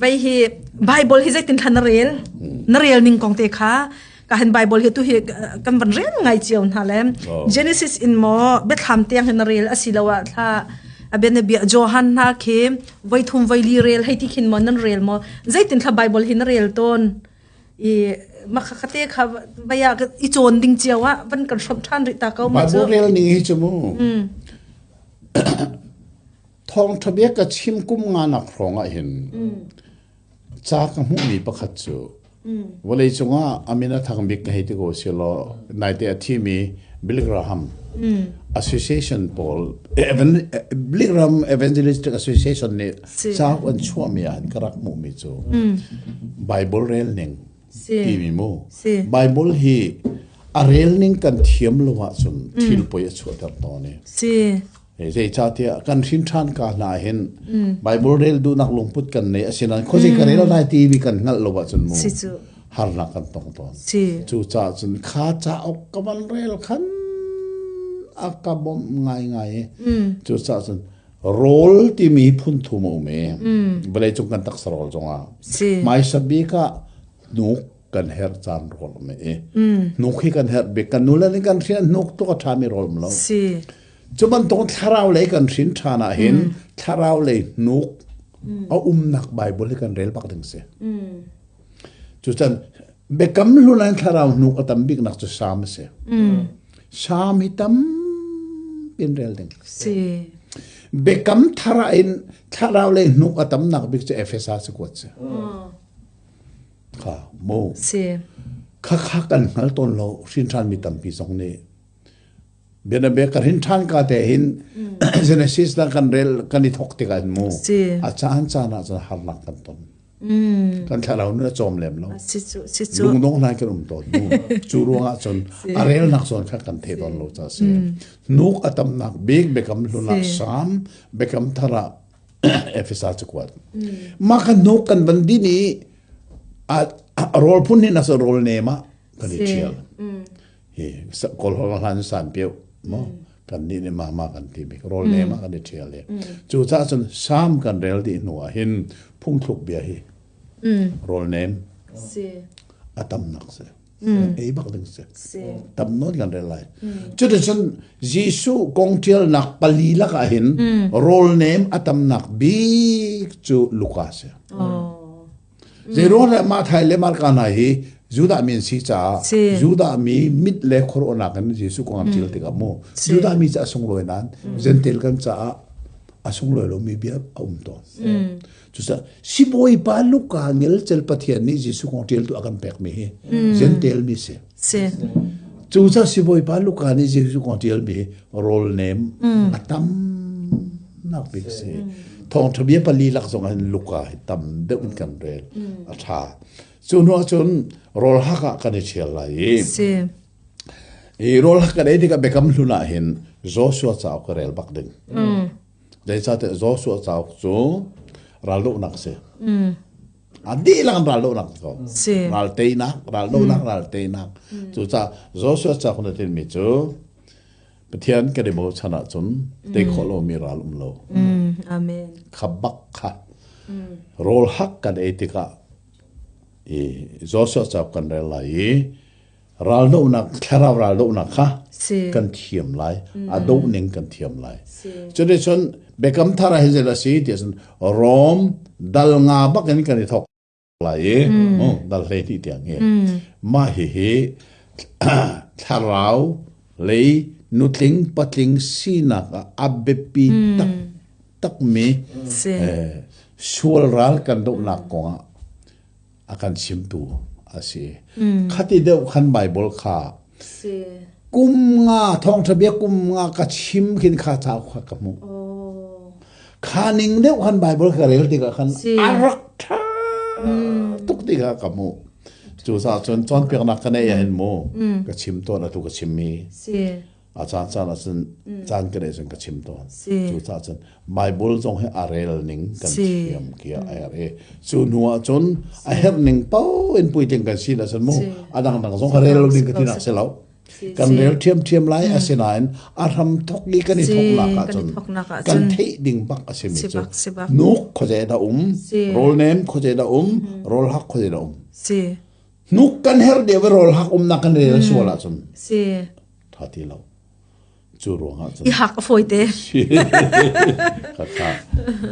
Vai hi Bible hi zeitin thlan na rel na rel ning kong te kha ka han Bible hi tu hi kan van rel ngai chiao hna le Genesis in mo bethlam tiang hin na rel asiloa thla aben bia Johan na khi voi thum voi li rel hei ti khin mon nan rel mo zeitin thla Bible hi na rel ton i ma kha kate kha baya i chon ding chiawa van kan shop than ri ta ko ma chu Bible rel ning hi chu mu Thawngṭha bia ka chim kum nganak hrawngah hin ca ka hmuhmi pakhat cu vawlei cungah a min a thang bik ka hei ti ko si law naite a thimi Billy Graham Association pawl Billy Graham Evangelistic Association nih ca an chuahmi ah ka rak hmuhmi cu Bible relning timi maw Bible hi a rel ning kan thiam lo ahcun thil poi a chuahter tawn i zeicahtiah kan hrinṭhan ka hna hin Bible rel duhnak lungput kan nei asinain khuazei ka rel lai timi kan hngalh lo ahcun mu harnak kan tong tawn cucaah cun kha cauk ka van rel khan a ka bawmh ngaingai i cucaah cun rawl timi phunthum a um i vawleicung kan taksa rawl zongah hmaisa bik ah hnuk kan herh caan rawl a i hnuk hi kan herh bik kan nule nih kan hriah hnuk tu a ṭhami rawl um lo cu bantuk thlarau lei kan hrin ṭhan ahhin thlarau lei hnuk a umnak Baibal hi kan rel bak ding si Cucan Biakam hlun an thlarau hnuk a tam biknak cu Salm a si. Mm. Salm hi tampi in rel ding. Si. Biakam thara in thlarau lei hnuk a tamnak bik cu Efesa si kuat si. Mm. Kha, mo. Si. Khakha kan hngal tawn lo, hrinhran mi tampi zong nih Bianabek ka rin ṭhan ka te hin Genesis la kan rel kan i thok tikah mu a caan caan ah cun harnak kan ton kan thlarau nun a cawm lem lo lungdong lai kan um tawn mu cu ruangah cun a relnak zawn kha kan the tawn lo ca si nuk a tamnak bik bekam hluna sam bekam thara efesa cu kuat ma kan nuk kan ban din i a rol phun hin as rol ne ma kan i thial hi kawlhawk hlan san piu mo kan ni ni ma ma kan ti mi rol ne ma kan i thial le cu ca cun sam kan rel di hnu ah hin phungthluk bia hi rol nem a tam nak se ei bak ding se tam non kan rel lai cu de cun jesu kong tial nak pali lak ah hin rol nem a tam nak bik cu luka se Zeiro le Mathai le Marka hna hi Judah mi an si caah Judah mi mit le khuaruahnak in Jesuh kong an ṭial tikah mu Judah mi cu a sunglawi nain Gentel kan caah a sunglawi lomi bia a um tawn. Cucaah sibawi pa Luka ngel cel Pathian nih Jesuh kong ṭial tu a kan pekmi hi Gentel mi si. Cuca sibawipa Luka nih Jesuh kong ṭialmi rawlnem a tam nak bik a si. Thawngṭha bia pali lak zongin Luka hi tam deuh in kan rel a ṭha. Cu hnu ahcun rawl hak ah kan i ṭhial lai i i rawl hak kan ei tikah Biakam hlun ah hin Joshua cauk ka rel bak ding. Zeicahtiah Joshua cauk cu raldohnak si. a dihlak in ral lonak ko ral teinak ral lonak ral teinak cucaah Joshua cak na tin mi cu Pathian kan i bochan ahcun tei khawh lo mi ral um lo amen khabak kha rawl hak kan ei tikah i Joshua cak kan rel lai i raldohnak thlarau raldohnak kha kan thiam lai a doh ning kan thiam lai cuti cun biakam thar hi zei a si ti cun rom dal nga bak in kan i thok lai i dal hlei hnih tiang hi mah hihi thlarau lei nutling patling sinak a biapi tak takmi sual ral kan dohnak kongah a kan chimtu a si. Khati deuh khan Baibal kha kum nga thawngṭha bia kum nga ka chim khin kha cauk kha ka hmuh. Kha ning deuh khan Baibal ka rel tikah khan a rak ṭha tuk tikah ka hmuh. Cucaah cun cawnpiaknak ka nei ah hin mu ka chim tuan atu ka chim mi a caan caan ah cun caan ka dei cun ka chim tawn cu ca cun Bible zong hi a rel ning kan thiam kia a er i cu hnu ah cun a herh ning pau in pui ting kan si la sun mu a dang dang zong rel ning ka ti nak se lo kan rel thiam thiam lai asinain a ram thok i kan i thok nak ah cun kan thei ding bak a si mi cu nuk khoje da um rol name khoje da um rol hak khoje da um nuk kan her de we rol hak um na kan rel suala cun ṭha ti lo. Cu ruangah cun I hak a fawi te. ka ṭha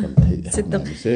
kan theih hna a si.